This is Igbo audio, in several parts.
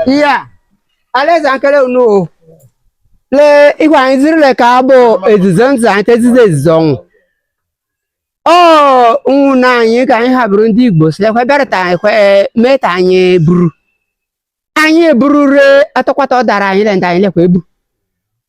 iya alaeze nkele unu o lee igwe anyị ziri leka bụ ezizo nzụ anyị te ezizo ezizo ọnwụ ọ nwụna anyị ka anyị ha bụrụ ndị igbo silekwe bịarịta anyị kwe meeta anyị buru anyị eburu re atụkwata ọ dara anyị le ndị anyị lekwa ebu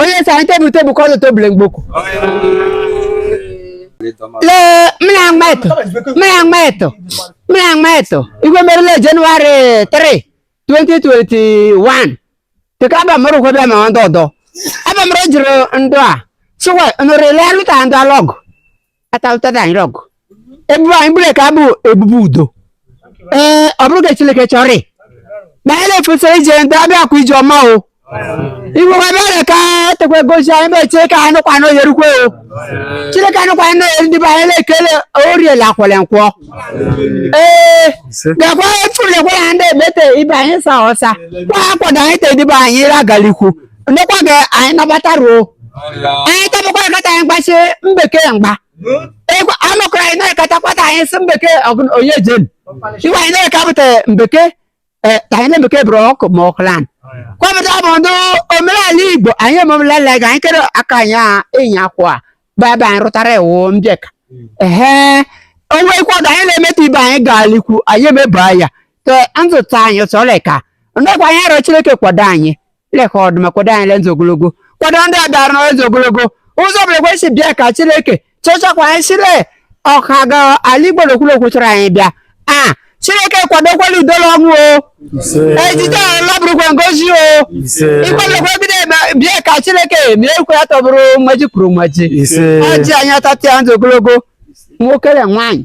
onye sị anyị te ebu te ebukwa ọ nọta obu le mgboko lee mmiri agba eto mmiri agba eto mmiri agba eto ihe merụ la jenụwarị 3 2021 teka abamụrụ ụgwọ bịa ma ndị ọdọ abamụrụ jụrụ ndụ a sịwa nụrụ ile alụta ndị alọgụ atalụtada anyị rọgụ ebubu anyị bu leka bụ ebubu udo ee ọ bụrụ ka Chileke chọrị na anyị na-efesara ije ndị abịakwa ije ọma o igwe nwa bịara ka tekwe gosi anyị mee Chileke anyị nụkwa na oyerukwe o Chileke anyị nụkwa na oyeri ndị be anyị na-ekele oriela akwele nkwọ ee gakwa efuru ekwe na ndị ebete ibe anyị sa ọsa kwa akwado anyị te dịbe anyị ragalikwu ndekwa gị anyị nabata ruo anyị tabakwa ekata anyị gbasi mbekee mgba egwu anọkọrọ anyị na-ekatakwata anyị si mbekee ọgụ- onye jen iwe anyị na-ekapụta mbekee eh, ka anyị na-emekee bụrụ ọkụ ma ọkụlan kwapụta bụ ndị omenala igbo anyị ememelala ga anyị kere aka anyị a enyi akwụ a bụ ebe anyị rụtara iwu mbịaka ehe onwe ikwado anyị na-emetụ ibe anyị gaalikwu anyị emeba ya ka nzụta anyị sọrọ ka ndekwa anyị arịọ chileke kwado anyị leka ọdụma kwado anyị le nzụ ogologo kwado ndị a bịara nọ le nzụ ogologo ụzọ bụ ekwe si bịa ka chileke chechakwa anyị si le ọka ga ala igbo n'okwulokwu chọrọ anyị bịa a chileke kwadokwa la udo le ọṅụ o ejije ahụ labụrụkwa ngozi o ịkwadokwa ebido eme bịa ka chileke mee ekwe ya tọbụrụ mmaji kwuru mmaji ọjị anyị atatịa ndụ ogologo nwoke na nwaanyị